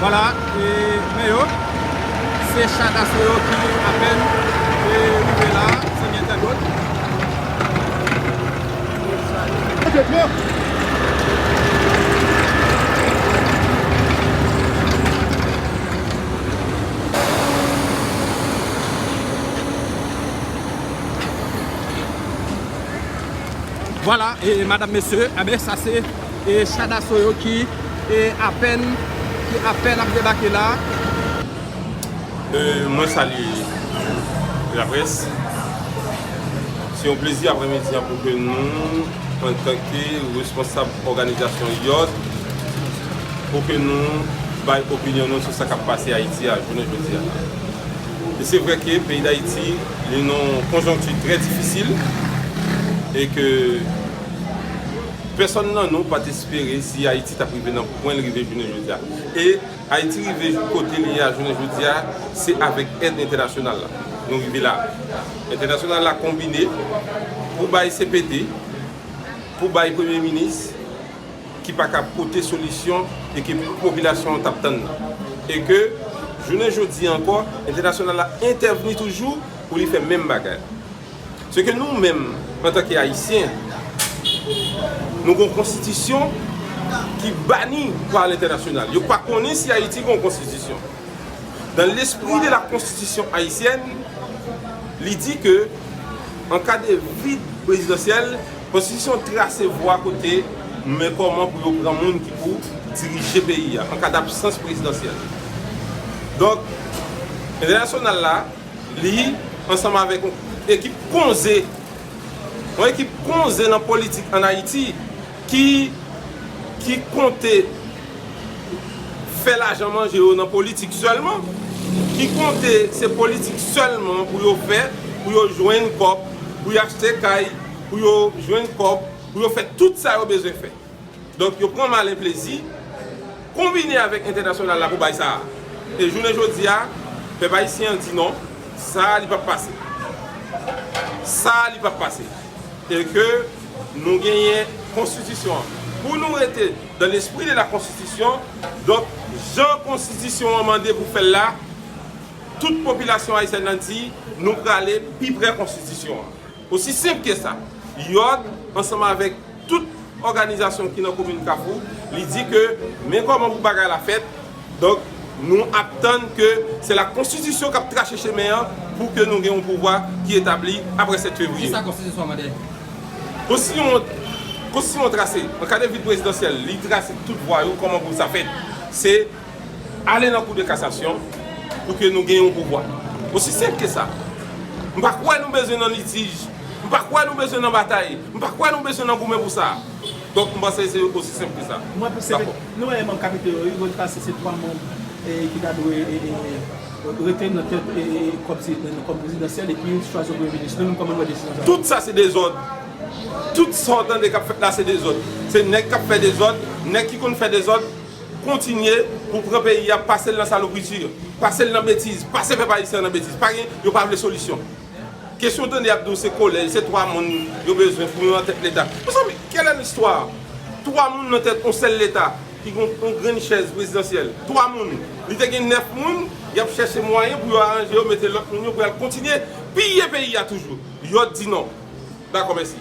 Vwala e men yo. Se cha daso yo ki apèn e rive la zanmi entènot. Vwala e madam mesye e ben sa se E cha daso yo ki e apèn ki apèn ap debake la a. E mwen salye laprès. Se yon plezi apremidi an pou ke nou antanke responsab òganizasyon yòt pou ke nou bay opinyon nou sou sa k ap pase Ayiti a jounen jodi a. E se vre ke peyi Dayiti li nan yon konjonkti trè difisil e ke. Pèsòn nan nou pat espere si Ayiti tap rive nan pwen l rive jounen jodi a. E Ayiti rive kote li ye a jounen jodi a, se avèk èd entènasyonal la nou rive la. Entènasyonal la konbine pou bay cpt, pou bay premye minis ki pa ka pote solisyon e ke popilasyon an tap tann nan. E ke jounen jodi a ankò, entènasyonal la entèvni toujou pou li fè menm bagay. Se ke nou menm, antanke Ayisyen, nou gon konstitisyon ki bani pa lentènasyonal. Yo pa konnen si Ayiti gon konstitisyon. Dans l'esprit de la Constitution haïtienne, li di ke an ka de vid prezidansyèl, konstitisyon trase vwa kote nou men kòman pou yo pran moun ki pou dirije peyi a, an ka dabsans prezidansyèl. Donk, entènasyonal la, Li, ansanm avèk yon ekip konze, yon ekip konze nan politik ann Ayiti ki ki konte fè lajan manje yo nan politik sèlman, ki konte se politik sèlman pou yo fè, pou yo jwenn kòb, pou yo achte kay, pou yo jwenn kòb, pou yo fè tout sa yo bezwen fè. Donk yo pran malen plezi, konbine avèk entènasyonal la pou bay sa a. E jounen jodi a, pèp ayisyen an di non, sa a li pap pase. Sa a li pap pase. E ke nou genyen konstitisyon an. Pou nou rete dan lespri de la konstitisyon, donk jan konstitisyon an mande pou fè l la, tout popilasyon ayisyèn nan di nou prale pi prè konstitisyon an. Osi senp ke sa. Yòd, ansanm avèk tout òganizasyon ki nan komin Kafou, li di ke men kòman pou bagay la fèt, donk nou ap tann ke se la konstitisyon k ap trache chemen an pou ke nou gen yon pouvwa ki etabli apre 7 fevriye. Kisa konstitisyon an mande? Konstitisyon an trase, an ka de vil prezidansyèl, li trase tout vwa yo kòman pou sa fèt. Se. Ale nan kou de kasasyon pou ke nou gen yon pouvwa. Osi senp ke sa. M pa kwè nou bezwen nan litij. M pa kwè nou bezwen nan batay. M pa kwè nou bezwen nan goumen pou sa. Donk m panse se osi senp ke sa. Mwen panse ke nou wè manm kapite yo wi, mwen panse se 3 manm ki ta dwe rete nan tèt kòm prezidansyèl epi yon ti chwazi premye minis. Nou menm kòman nou wè desizyon sa yo? Tout sa se dezòd. Tout sa w tande k ap fèt la se dezòd. Se nèg k ap fè dezòd, nèg ki konn fè dezòd. Kontinye pou pran peyi a pasel nan salopriti pasel nan betiz pase pèp ayisyen an nan betiz pa gen yo pa vle solisyon kesyon tande yap diw se kolèj se 3 moun yo bezwen pou yo nan tèt leta mezanmi kèl è listwa 3 moun nan tèt yon sèl leta ki gen yon grenn chèz prezidansyèl 3 moun li te gen 9 moun yap chèche mwayen pou yo aranje yo mete lòt moun yo pou yal kontinye piye peyi a toujou yo di non dakò mèsi.